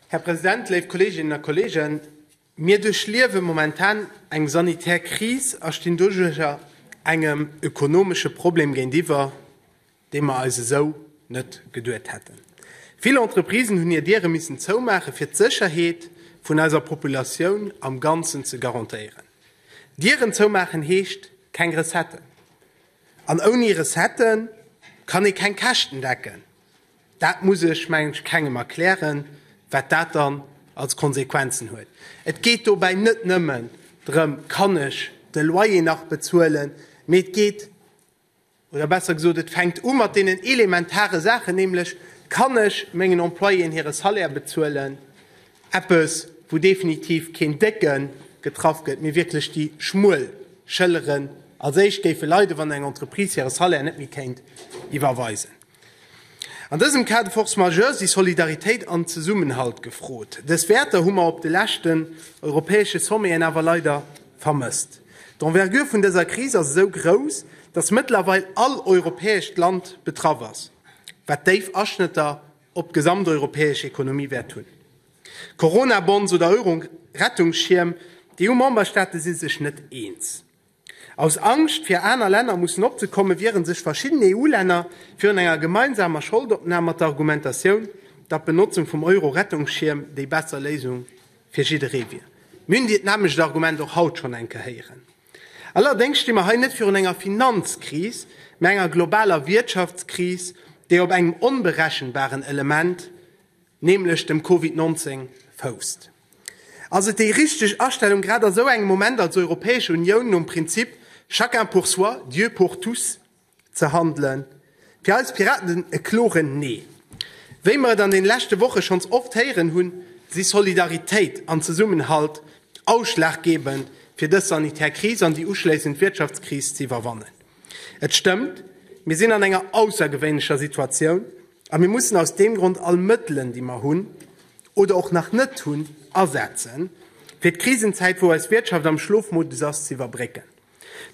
Här President, léif Kolleeginnen a Kolleegen, mir duerchliewe momentan eng sanitär Kris a stinn doduerjer engem ökonomesche Problem géintiwwer, dee mer eis esou net geduet hätten. Vill Entreprisen hunn hir Diere missen zoumaachen, fir d'Sécherheet vun eiser Populatioun am Ganzen ze garantéieren. Dieren zoumaachen heescht, keng Recetten. An ouni Recettë kann ee keng Käschten decken. Dat muss ech, mengen ech, kengem erklären, wat dat dann als Konsequenzen huet. Et geet dobäi net nëmmen drëm, Kann ech de Loyer nach bezuelen? Mee et geet, oder besser gesot, et fänkt u mat deenen elementare Saachen, nämlech, Kann ech mengen Employéen hire Salaire bezuelen? Eppes, wou definitiv keen Décke getraff gëtt, mee wierklech déi schmuel Schëlleren als éischt géife leiden, wann eng Entreprise hire Salaire net méi kéint iwwerweisen. An dësem Cas de force majeure si Solidaritéit an Zesummenhalt gefrot. Dës Wäerter hu mer op de leschten europäesche Sommeten awer leider vermësst. D'Envergure vun dëser Kris ass esou grouss, dass mëttlerweil all europäescht Land betraff ass, wat déif Aschnëtter op d'gesamteuropäesch Ekonomie wäert hunn. Corona-Bonds oder Euro-Rettungsschierm, Déi EU-Memberstaate si sech net eens. Aus Angscht fir aner Länner mussen opzekommen, wiere sech verschidden EU-Länner virun enger gemeinsamer Scholdopnam mat der Argumentatioun, datt d'Benotzung vum Euro-Rettungsschierm déi besser Léisung fir jidderee wier. Mir hunn dit nämmlecht Argument och haut schonn eng Kéier héieren. Allerdéngs sti mer hei net virun enger Finanzkris, mä enger globaler Wirtschaftskris, déi op engem onberechenbaren Element, nämlech dem Covid 19, fousst. Ass et déi richteg Astellung, grad a sou engem Moment als Europäesch Unioun nom Prinzip chacun pour soi, Dieu pour tous? ze handelen. Fir eis Piraten e kloren Nee. Wéi mer et an den leschte Woche schonns oft héieren hunn, si Solidaritéit an Zesummenhalt ausschlaggebend fir dës sanitär Kris an déi uschléissend Wirtschaftskris ze iwwerwannen. Et stëmmt, mir sinn an enger aussergewéinlecher Situatioun a mir mussen aus deem Grond all Mëttelen déi mer hunn, oder och nach net hunn, asetzen fir d'Krisenzäit wou eis Wirtschaft am Schlofmodus ass, ze iwwerbrécken.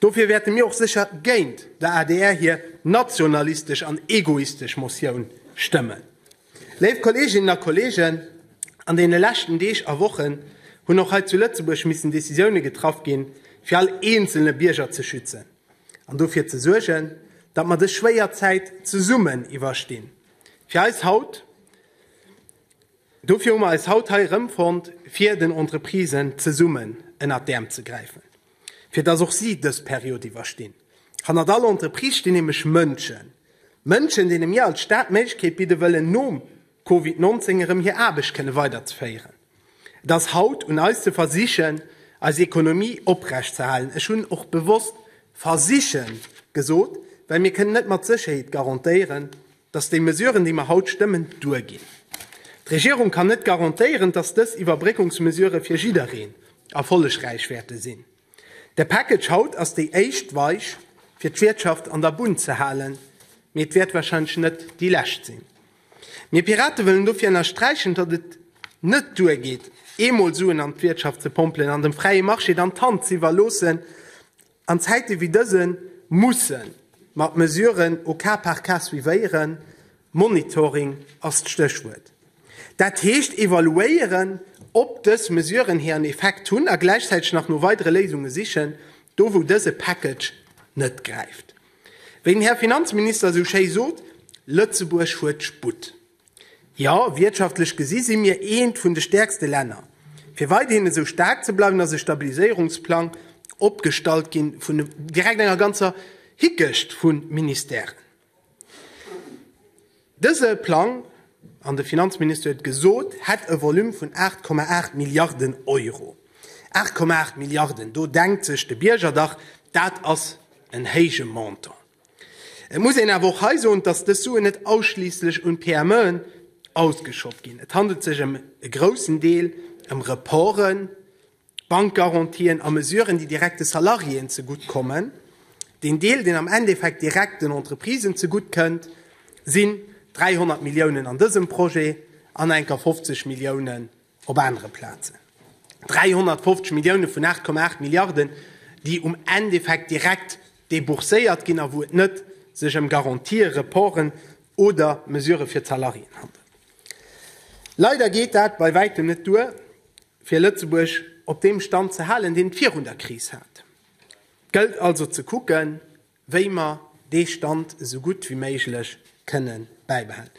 Dofir wäerte mir och sécher géint der adr hir nationalistesch an egoistesch Motioun stëmmen. Léif Kolleeginnen a Kolleegen, an deene leschten Deeg a Wochen hunn och hei zu Lëtzebuerg missen Decisioune getraff ginn, fir all eenzelne Bierger ze schützen an dofir ze suergen, datt mer dës schwéier Zäit zesummen iwwerstinn. Fir eis haut, dofir hu mer eis haut hei erëmfonnt, fir den Entreprisen zesummen ënnert d'Äerm ze gräifen. fir dass och si dës Period iwwerstinn. Hannert all Entreprise stinn nämlech Mënschen. Mënschen, deene mir als Stad d'Méiglechkeet bidde wëllen, nom Covid 19 erëm hir Aarbecht kënne weiderzeféieren. Et ass haut un eis ze versichen, eis Ekonomie oprecht ze halen. Ech hunn och bewosst versichen gesot, well mir kënnen net mat Sécherheet garantéieren, dass déi Mesuren, déi mer haut stëmmen, duerginn. D'Regierung kann net garantéieren, dass dës Iwwerbréckungsmesurë fir jiddereen erfollegräich wäerte sinn. De Package haut ass déi éischt Weich, fir d'Wirtschaft an der Bunn ze halen, mee et wäert warscheinlech net déi lescht sinn. Mir Pirate wëllen dofir ënnersträichen, datt et net duergeet, eemol Suen an d'Wirtschaft ze pompelen an dem fräie Marché dann d'Hand z'iwwerloossen, An Zäite wéi dësen musse mer d'Mesuren au cas par cas suivéieren, Monitoring ass d'Stéchwuert. Dat heescht evaluéieren, ob dës Mesuren hiren Effekt hunn a gläichzäiteg nach no weidere Léisunge sichen, do wou dëse Package net gräift. Wéi den Här Finanzminister esou schéi sot, Lëtzebuerg huet Sputt. Jo, wirtschaftlech gesi si mir eent vun de stäerkste Länner. Fir weiderhin esou staark ze bleiwen, ass e Stabiliséierungsplang opgestallt gi vun direkt enger ganzer Hickecht vu Ministèren. Dëse Plang, an de Finanzminister huet et gesot, hätt e Volume vun 8,8 Milliarden Euro. 8,8 Milliarden, do denkt sech de Bierger dach, dat ass en héije Montant. Et muss een awer och hei soen, dass dës Suen net ausschliisslech un d'PMEen ausgeschott ginn. Et handelt sech ëm e groussen Deel ëm Reporten, Bankgarantien a Mesuren, déi direkt de Salariéen zegutt kommen. Deen Deel, deen am Endeffekt direkt den Entreprisen zegutt kënnt, sinn 300 Milliounen an dësem Projet an enker 50 Milliounen Op anere Plazen 350 Millioune vun 8,8 Milliarden, déi um Endeffekt direkt debourséiert ginn a wou et net sech ëm Garantië, Reporten oder Mesurë fir d'Salariéen handelt. Leider geet dat bei wäitem net duer, fir Lëtzebuerg op deem Stand ze halen, deen et virun der Kris hat. Gëllt also ze kucken, wéi mer dee Stand esou gutt wéi méiglech kënne bäibehalen.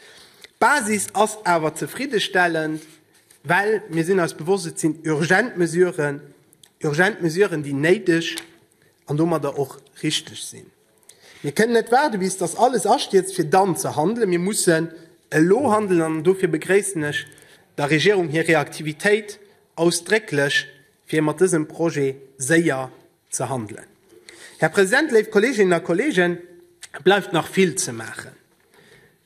D'Basis ass awer zefriddestellend, well mir sinn eis bewosst, et sinn urgent Mesuren, urgent Mesuren, déi néideg an domadder och richteg sinn. Mir kënnen net waarde bis datt alles astierzt, fir dann ze handelen. Mir mussen elo handelen an dofir begréissen ech der Regierung hir Reaktivitéit ausdrécklech, fir mat dësem Projet séier ze handelen. Här President, léif Kolleeginnen a Kolleegen, et bleift nach vill ze maachen.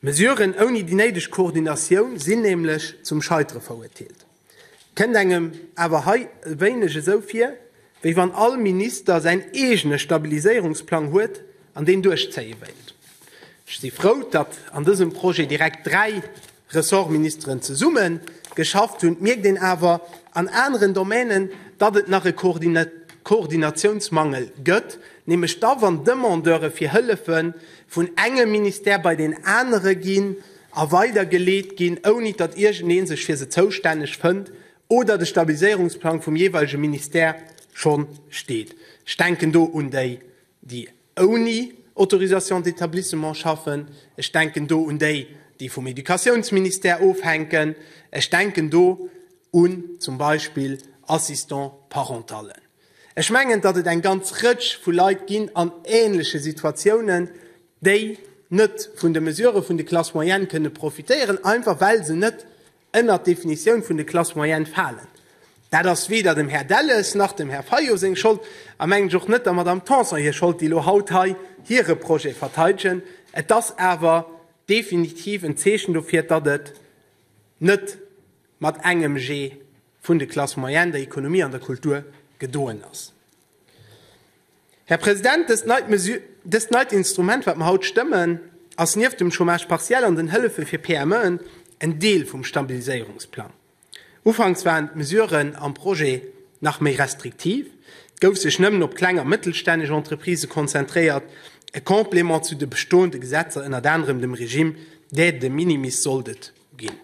Mesuren ouni déi néideg Koordinatioun sinn nämlech zum Scheitere verurteelt. Et kënnt engem awer hei e wéineg esou vir, wéi wann all Minister säin eegene Stabiliséierungsplang huet an deen duerchzéie wéilt. Ech si frou, datt an dësem Projet direkt dräi Ressortministeren zesumme geschafft hunn. Et mierkt een awer an aneren Domänen, datt et nach e Koordinatiounsmangel gëtt, nämlech da wann Demandeure fir Hëllefe vun engem Ministère bei deen anere ginn a weidergeleet ginn, ouni datt iergendee sech fir se zoustänneg fënnt oder de Stabiliséierungsplang vum jeeweilege Ministère scho steet. Ech denken do un déi, déi ouni Autorisation d'établissement schaffen, ech denken do un déi, déi vum Educatiounsministère ofhänken, ech denken do un zum Beispill Assistant parentallen. Ech mengen, datt et eng ganz Rëtsch vu Leit ginn an änleche Situatiounen, déi net vun de Mesurë vun de Classes moyennes kënne profitéieren, einfach well se net ënnert d'Definitioun vun de Classes moyennes falen. Dat ass weder dem Här Delles nach dem Här Fayot seng Schold a mengen ech och net der Madame Tanson hir Schold, déi elo haut hei hire Projet verteidegen. Et ass awer definitiv en Zeechen dofir, datt et net mat engem Jee vun de Classes moyennes, der Economie an der Kultur gedoen ass. Här President, dëst neit Mesü-, dëst neit Instrument, wat mer haut stëmmen, ass nieft dem Chômage partiel an den Hëllefe fir PMEen en Deel vum Stabiliséierungsplang. Ufanks waren d'Mesuren am Projet nach méi restriktiv, et gouf sech nëmmen op kleng a mëttelstänneg Entreprisë konzentréiert, e Complément zu de bestoende Gesetzer, ënnert anerem dem Régime d'aide de minimis, sollt et ginn.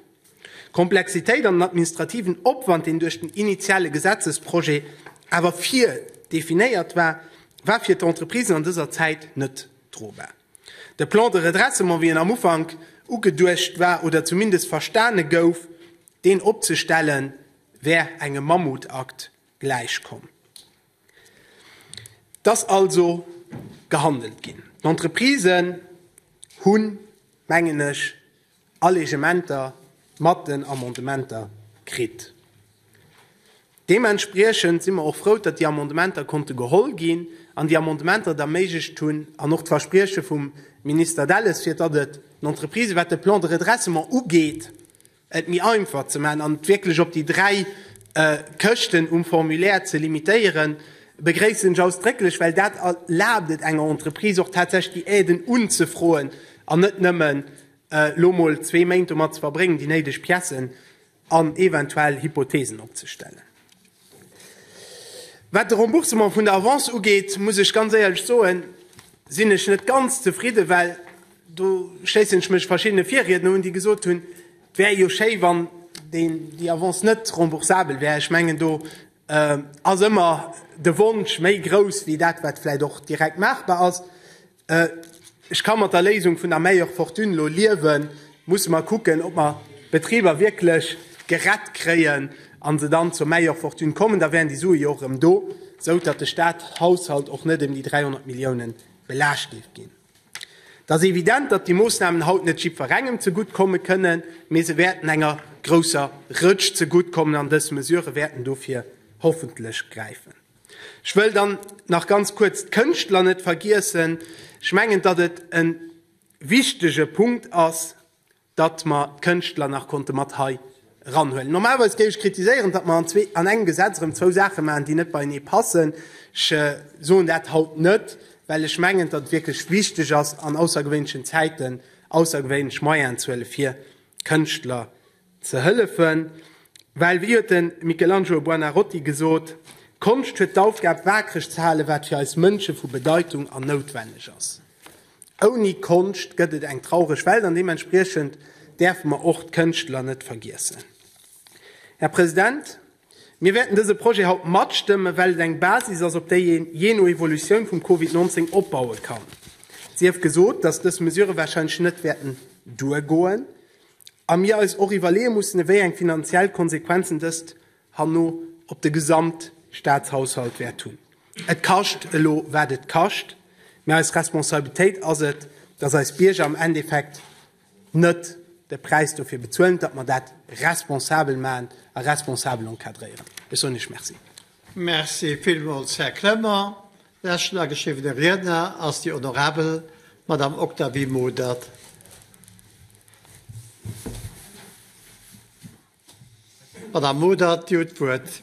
D'Komplexitéit an den administrativen Opwand, deen duerch den initiale Gesetzesprojet awer virdefinéiert war, war fir d'Entreprisen an dëser Zäit net drobar. De Plan de redressement, wéi en am Ufank ugeduecht war oder zumindest verstane gouf, deen opzestellen, wär engem Mammutakt gläichkomm. Et ass also gehandelt ginn. D'Entreprisen hunn, mengen ech, Allegementer mat den Amendementer kritt. Deementspriechend si mer och frou, datt déi Amendementer konnte geholl ginn an déi Amendementer et erméiglecht hunn, an och d'Versprieche vum Minister Delles, fir datt et den Entreprisë, wat de Plan de redressement ugeet, et méi einfach ze maachen an et wierklech op déi dräi Këschten um Formulaire ze limitéieren, begréissen ech ausdrécklech, well dat erlaabt et enger Entreprise och tatsächlech déi Aiden unzefroen an net nëmmen Elo mol zwee Méint domat ze verbréngen, déi néideg Piècen an eventuell Hypothesen opzestellen. Wat de Remboursement vun der Avance ugeet, muss ech ganz éierlech soen, sinn ech net ganz zefridden, well, do schléissen ech mech verschiddene Virriedner un, déi gesot hunn, et wär jo schéi, wann déi Avance net remboursabel wär. Ech mengen, do ass ëmmer de Wonsch méi grouss wéi dat, wat vläicht och direkt maachbar ass. Ech ka mat der Léisung vun der Meilleure Fortune elo liewen. Musse mer kucken, ob mer d'Betriber wierklech gerett kréien a se dann zur Meilleure Fortune kommen. Da wären déi Sue jo och erëm do, esou datt de Statshaushalt och net ëm déi 300 Milliounen belaascht géif ginn. Et ass evident, datt déi Moossnamen haut net jiddwerengem zegutt komme kënnen, mee se wäerten enger grousser Rëtsch zegutt kommen an dës Mesurë wäerten dofir hoffentlech gräifen. Ech wëll dann nach ganz kuerz d'Kënschtler net vergiessen. Ech mengen, datt et e wichtege Punkt ass, datt mer d'Kënschtler nach konnte mat hei eranhuelen. Normalerweis géif ech kritiséieren, datt mer an engem Gesetz erëm zwou Saache maachen, déi net beienee passen. Ech soen dat haut net, well ech mengen, datt et wierklech wichteg ass, an aussergewéinlechen Zäiten aussergewéinlech Moyenen ze huelen, fir d'Kënschtler Ze hëllefen, well, wéi huet de Michelangelo Buonarroti gesot, Konscht huet d'Aufgab, waakreg ze halen, wat fir eis Mënsche vu Bedeitung an noutwenneg ass. Ouni Konscht gëtt et eng traureg Welt, an deementspriechend däerfe mer och d'Kënschtler net vergiessen. Här President, mir wäerten dëse Projet haut matstëmmen, well et eng Basis ass, op déi een, jee no Evolutioun vum Covid 19, opbaue kann. Sief gesot, dass dës Mesurë warscheinlech net wäerten duergoen. A mir eis och iwwerleeë mussen, ewéi eng finanziell Konsequenzen dëst herno op de Gesamtstaatshaushalt wäert hunn. Et kascht elo, wat et kascht, mä eis Responsabilitéit ass et, datt eis Bierger am Endeffekt net de Präis dofir bezuelen, datt mer dat responsabel maachen a responsabel encadréieren. Ech soen Iech Merci. Merci villmools, Här Kremer. Leschten ageschriwwene Riedner ass déi honorabel Madame Octavie Modert. Madame Modert, Dir hutt d'Wuert.